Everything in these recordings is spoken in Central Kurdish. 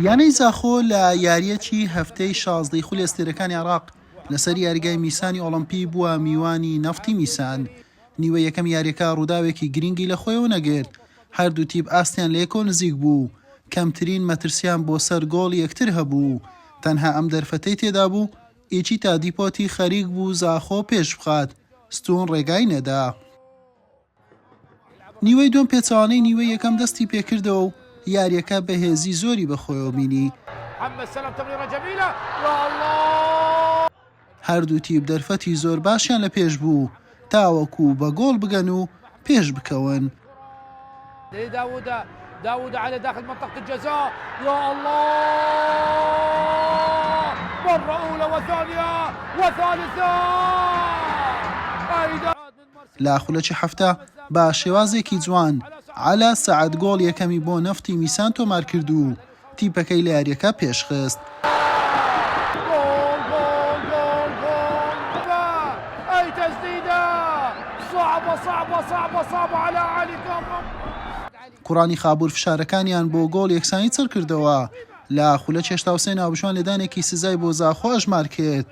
یانەی زاخۆ لە یارییەکی هەفتەی شازدەی خولی ئەستێرەکانی عێراق لەسەر یاریگای میسانی ئۆڵەمپی بووە میوانی نەفتی میسان. نیوەی یەکەمی یارییەکە رووداوێکی گرینگی لەخۆیەوە نەگرت، هەردوو تیپ ئاستیان لە یەکەوە نزیک بوو، کەمترین مەترسییان بۆ سەر گۆڵی یەکتر هەبوو، تەنها ئەم دەرفەتەی تێدابوو ئیچیتا دیپۆتی خەریکبوو زاخۆ پێشبخات، ستوون رێگای نەدا. نیوەی دووەم پێچەوانەی نیوەی یەکەم دەستی پێکردەوە و یارییەکە بەهێزی زۆری بەخۆیەوە بینی، هەردوو تیپ دەرفەتی زۆر باشیان لە پێش بوو تاوەکو بە گۆڵ بگەن و پێش بکەون. لە خولەکی حەفتا بە شێوازێکی جوان عەلا سەعد گۆڵ یەکەمی بۆ نەفتی میسان تۆمارکرد و تیپەکەی لە یارییەکە پێشخست. کوڕانی خابوور فشارەکانیان بۆ گۆڵ یەکسانی چڕکردەوە، لە خولەکی هەشتا و سێ ناوبژوان لێدانێکی سزای بۆ زاخۆ ئەژمار کرد،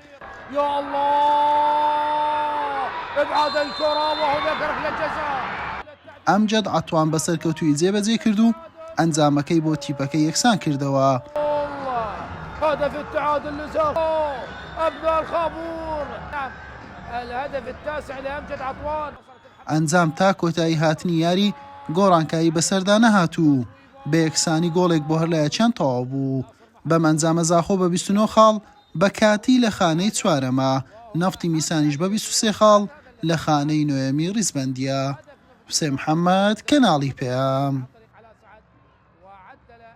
ئەمجەد عەتوان بە سەرکەوتوویی جێبەجێی کرد و ئەنجامەکەی بۆ تیپەکەی یەکسان کردەوە. ئەنجام تا کۆتایی هاتنی یاری گۆڕانکایی بەسەردا نەهات و بە یەکسانی گۆڵێک بۆ هەرلایەکیان تەواو بوو. بەم ئەنجامە زاخۆ بە بیست و نۆ خاڵ بە کاتی لە خانەی چوارەمە، نەفتی میسانیش بە بیست و سێ خاڵ لە خانەی نۆیەمی ڕیزبەندییە. حوسێن محەمەد، کەناڵی پەیام.